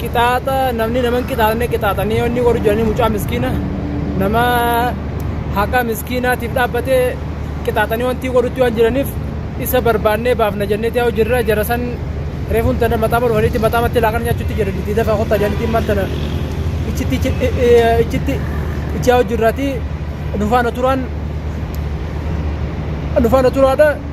qixaaxa namni nama hin qixaaxne qixaaxanii yoo inni warri jiranii mucaa miskiina nama haqa miskiinaatiif dhaabbatee qixaaxanii wanti godhutti waan jiraniif isa barbaannee baafna jenneeti haa hojirra jara san reefuun tana maxaama dhufaniitti maxaamatti laaqana nyaachuutti jiran itti dafa kottaa jedhaniitti immaan tana ichitti ichitti ichi haa hojirraati nufaana turaan nufaana turaadha.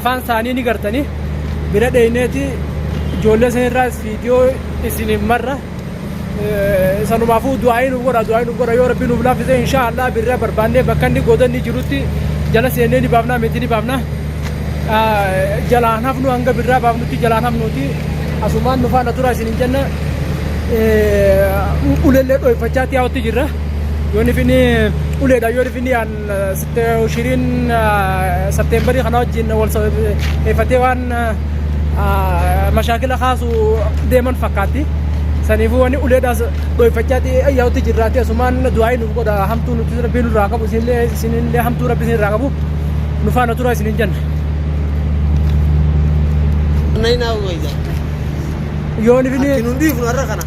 afaan isaanii ni gartanii bira dheyneeti ijoollee san irraa viidiyoo isiniif marra sanumaafuu du'aa'ii nuuf godha du'aa'ii nuuf godha yoo rabbi nuuf laaffise inshaa allah birraa barbaannee bakka inni godanni jirutti jala seennee ni baafna meetii ni baafna jalaan hafnu hanga birraa baafnutti jalaan hafnuuti asumaan nu faana tura isinin jenna ulellee dhoyfachaa tiyaawatti jirra yoo nifini uleedha yoo nifini yaan Shiriin Septeembarii kana wajjin wal sababeeffatee waan mashaakila kaasu deeman fakkaatti. Saniifuu wanni uleedhaas dhoyfachaa yaa'utti jirraati asumaan du'aa'ii nuuf godha hamtuu nuti rabbiin nurraa qabu isinillee isinillee hamtuu rabbi isinirraa qabu nu faana tura isinin jenna. Nainaa waydaa. Yoon ifini Ati nun dhiifnu har'a kana.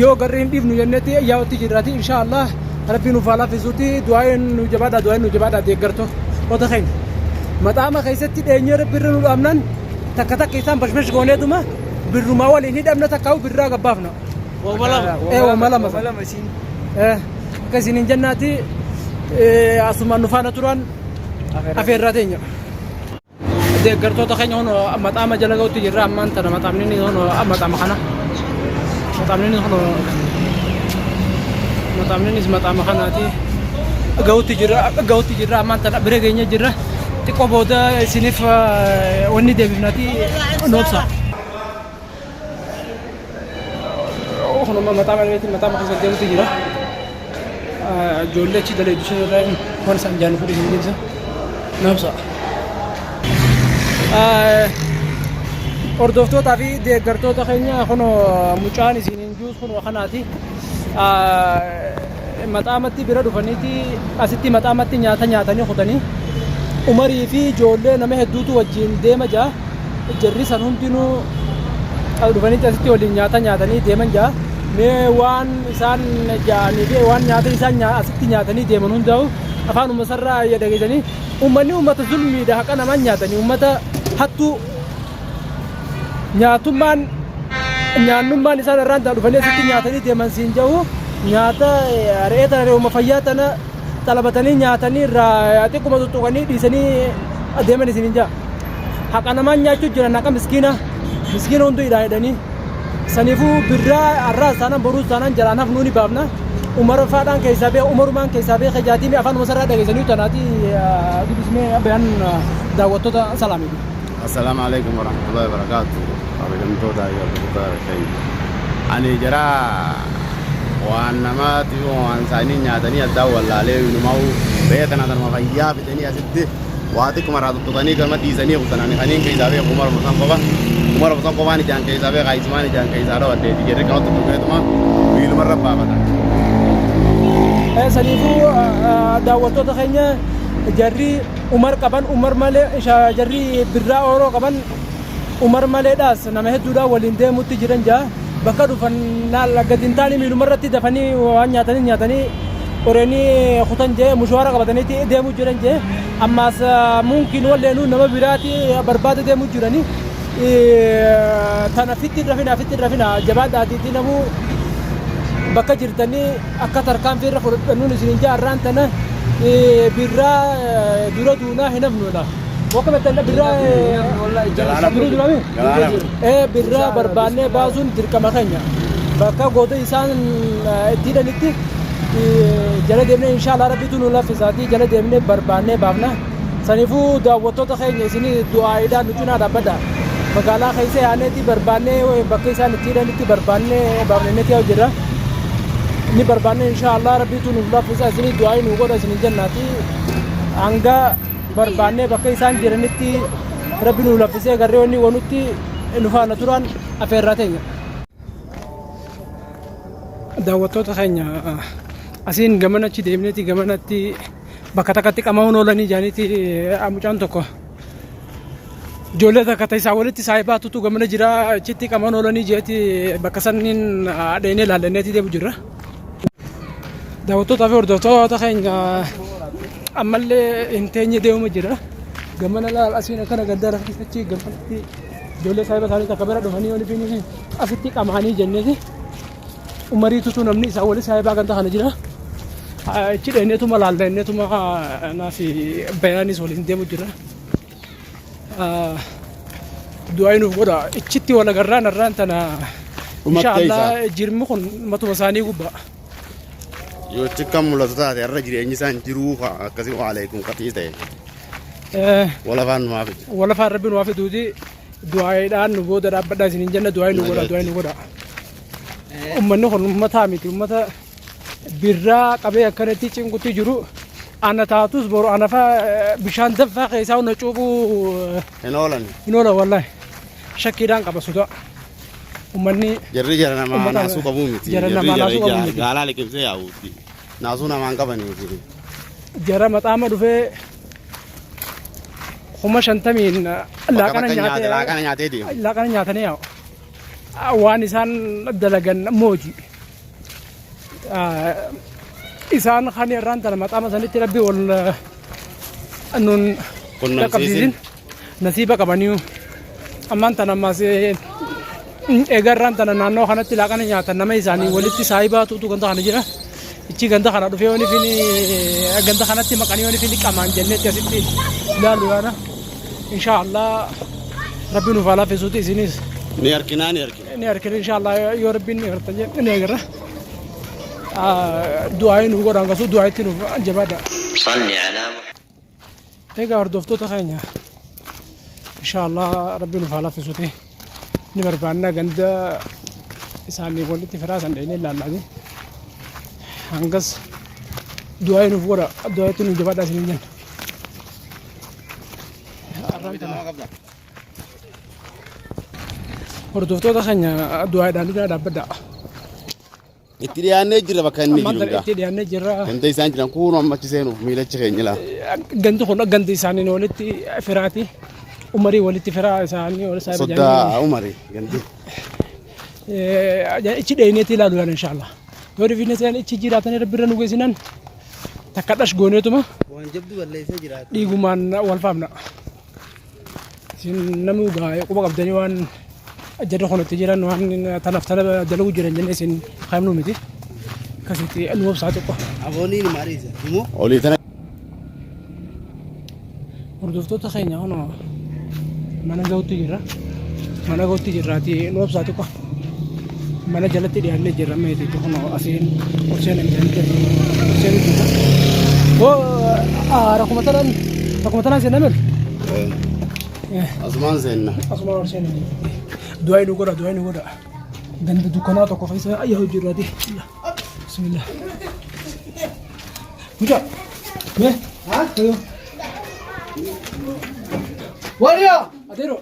yoo garri hin dhiifnu jennetti yaa'utti jirraati inshaallah. Rabbii nuuf haa laafisuuti du'aayin nu jabaadha du'aayin nu jabaadha deeggartoo ota keenya maxaama keessatti dheenyee rabbi irra nu dhaabnan takka takka isaan bashbash goonee duma birrumaa waliin hidhamna takka huu birraa gabbaafna. Ee wama lama sana. Ee akka isin hin jennaati asumaan nu faana turan afeerraa teenya. Deeggartoota keenya kun maxaama jala ga'utti jirra ammaan tana maxaamni inni kun maxaama kana. Maxaamni inni kun maxaamni innis maxaama kanaati. Ga'utti jirra ga'utti jirra ammaan tana bira geenye jirra. Xiqqoo booda isiniif eh, wanni deebifnati noobsa. Kunuma mataa maneetiin mataa keessa deemutu jira. Ijoollee achi daleedu sun irraa waan isaan jaallu fudhii hin deemsa. Naamsa. Hordoftootaa fi deeggartoota keenya kun mucaan isin hin juus kun kanaati. Maxaa matti bira dhufaniti asitti maxaa matti nyaata nyaatani kutani umari fi ijoollee nama hedduutu wajjiin deema jaa jarri san hundinuu as dhufanitti asitti waliin nyaata nyaatanii deeman jaa mee waan isaan jaanii fi waan nyaata isaan nyaa asitti nyaatanii deeman hundaa'u afaan umasarraa ya dhageessanii ummanni ummata zulmiidha haqa namaan nyaatanii ummata hattuu nyaatummaan nyaannummaan isaan irraan taa dhufanii asitti nyaatanii deeman siin jahu nyaata re'ee tana re'uma fayyaa tana xalabatanii nyaatanii irraa xiqquma tuttuqanii dhiisanii adeeman isin hin jaha. Haqa namaan nyaachuu jiran haqa miskiina miskiina hunduu hidhaa hidhanii saniifuu birraa har'aas taanaan boruus taanaan jalaan hafnuu ni baafna. Umara faadhaan keessaa bee umarumaan keessaa bee kajaatii afaan umasarraa dhageessanii tanaatii dubbismee abbaan daawwattoota salaamii. Asalamu aleykum warahmatullahi wabarakatu kabajamtoota yordoftoota keenya ani jara waan namaati waan isaanii nyaatanii addaa wallaalee inumaa'u beekan atanuma fayyaa fidanii asitti waa xiqquma irraa tuttuqanii gama dhiisanii kutan ani kaniin keessaa beeku kuma lama san qofa kuma lama san qofaan ijaan keessaa beeka isumaan ijaan keessaa dhawaddeeti jedhee gama tuttuqeetuma miiluma irra baafata. Saniifuu daawwattoota keenya jarri Umar qaban Umar malee jarri birraa ooroo qaban Umar maleedhaas nama hedduudhaan waliin deemutti jiran jaa bakka dhufan gadi hin taane miiluma irratti dafanii waan nyaatanii nyaatanii qoreenii kutan jee mushawaara qabataniiti deemuu jiran jee ammaas muunkiin walleenuu nama biraati barbaada deemuu jiranii tana fitti rafina fitti rafina jabaadhaatiitii namuu bakka jirtanii akka tarkaanfii irra fudhadhannuun isiniin jaa irraan tana birraa dura duunaa hin hafnuudha. Boka betan birra jiru jiru ami eh birra barbaanne baasuun dirqama keenya bakka goota isaan itti hidhanitti jala deemnee inshallah rabbitu nu laffisaatii jala deemnee barbaanne baafna Sanifuu daawwattoota keenya isin du'aa'iidhaan nu cinaa dhaabbadha. Magaalaa keessa yaa'neeti barbaannee bakka isaan itti hidhanitti barbaannee baafnanneeti yaa'u jirra. Inni barbaannee inshaa Allah rabbiitu nuuf laaffisa isin du'aa'ii nu godha isin jennaati. Hanga barbaannee bakka isaan jiranitti rabbi nuuf laaffisee garree wanni wanutti nu faana turan afeerraa teenya. Daawwattoota keenya asiin gamanachi deemneeti gamanatti bakka takkatti qama'uun oolanii jaaniiti mucaan tokko ijoollee takka isaa walitti saayibaa tutu gamana jira achitti qama'uun oolanii jeeti bakka sanniin dheenee laallanneetii deemu jirra. Daawwattootaa fi hordoftoota keenya ammallee hin teenye deemuma jira. Gamana laal asiin akkana gaddaa rafti achi gamatti ijoollee saayiba isaanii takka bira dhufanii olii fi asitti qamaanii jenneeti. Umarii tutuu namni isaa wali saahibaa ganda kana jira. Achi dheeneetuma laalla inneetuma anaa fi bayaanis waliin deemu jira. Du'aayi nuuf godha. Ichitti wal agarraan har'aan tana Dhumattee isaa. inshaallah jirmi kun matuma isaanii gubbaa. Yoo achi kan mul'atu taate har'a jireenyi isaan jiruu haa akkasii waaleekum qaxii ta'e Eh, walafaan numaa fide. Walafaan rabbi nuuf fiduuti. du'aayiidhaan nu booda dhaabbadhaa isin hin jenna du'aayi nu godha du'aayi nu godha. Uummanni kun uummataa miti uummata birraa qabee akkanatti cinqutti jiru ana taatus boru ana faa bishaan danfaa keessaa hunda cuuphuu Hin oolan. hin oola wallahi shakkiidhaan qaba sodaa uummanni Jarri jara namaa Ummata- naasuu qabuu miti. jara Jarri namaa jara naasuu qabuu ija- miti. gaalaa liqimsee yaa'uuti. Naasuu namaan qabanii miti. jara maxaama dhufee kuma shantamiin laaqana nyaatee laaqana nyaatee deemu. laaqana nyaatanii yaa'u. Waan isaan dalagan mooji. Isaan kan irraan tana maqaama sanitti rabbi wal nun Qunnamsiisin. dhaqqabsiisin. Nasiiba qabaniyu ammaan tana ammaas eegarraan tana naannoo kanatti laaqana nyaatan nama isaanii walitti saayibaa tuutu ganda kana jira. Ichi ganda kana dhufee wani fini ganda kanatti maqanii wani fini qamaan jennee akkasitti ilaalu yaana. Inshaallah rabbi nuuf haa laafisuuti isinis Ni arginaa ni argina. ni argina inshaallah yoo rabbiin ni argatan jennee ni agarra. Du'aayi nuuf godhaan kasuu du'aayitti nuuf jabaadha. صل على محمد Egaa hordoftoota keenya insha Allah rabbi nuuf haa laffisuti ni barbaanna ganda isaanii walitti firaa san dheenee ilaallaani hangas du'aa nuuf godha du'aa itti nuuf jabaadhaa isin jenna. Hordoftoota keenya du'aadhaan dhaabbadhaa. Itti dhiyaannee jirra bakka inni jiru egaa. Itti dhiyaannee jirra. Ganda isaan jiran kuun amma achi seenuuf miilachi keenya laa. Gandi kun gandi isaaniin walitti firaati. Umarii walitti firaa isaanii wal isaa Soddaa Umarii gandi. Ichi dheeneetii ilaalu yaala inshaallah. Yoo dhifinne seen ichi jiraatanii rabbi irra nu geessinan takka dhash gooneetuma. Waan jabdu balleessee jiraatu. Dhiigumaan wal faamna. Isin namuu gaa quba qabdanii waan jarri kun itti jiran waan tanaaf tana dalaguu jiran jennee isin kaa'imnu miti. Akkasitti nu obsaa xiqqoo. Aboonii ni maariisa. Himoo? Olii tana Hordoftoota keenya kunoo mana ga'uutti jirra. Mana ga'uutti jirraatii nu obsaa xiqqoo. Mana jalatti dhiyaannee jirra meeti kunoo asiin kurseen hin jirti. Kurseen hin jirti. Hoo rakkuma tanaan rakkuma tanaan seenaa miti. Asumaan seenna. Asuma ol seenaa miti. Du'aa inni godha du'aa inni godha. Ganda dukkanaa tokko keessa ayyaa hojii irraati. Bismillah. Mucaa. Mee. Haa. Waliyaa. Adeeroo.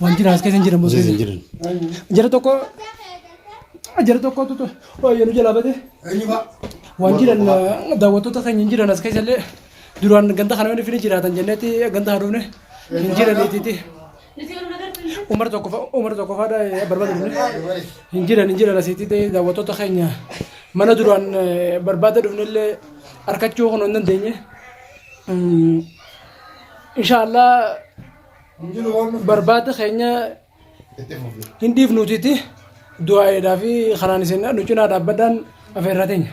Waan jiraas keessa hin jedhamu. Osoo hin jiran. Jara tokko jara tokko tutu baay'ee nu jalaa bate. Waan jiran daawwattoota keenya hin jiran as keessa illee duraan ganda kana hin jiraatan jennetti ganda haa dhufne hin jiran itti. Umar tokko fa- umar tokko faadha barbaadu dhufne. Hin jiran hin jiran asitti ta'e daawwattoota keenya mana duraan eh, barbaada dhufne illee harkachuu kun hin dandeenye. Mm, Inshaallah barbaada keenya hin dhiifnuutiiti du'aayeedhaa fi kanaan isin nu cinaa dhaabbadhaan afeerraa teenya.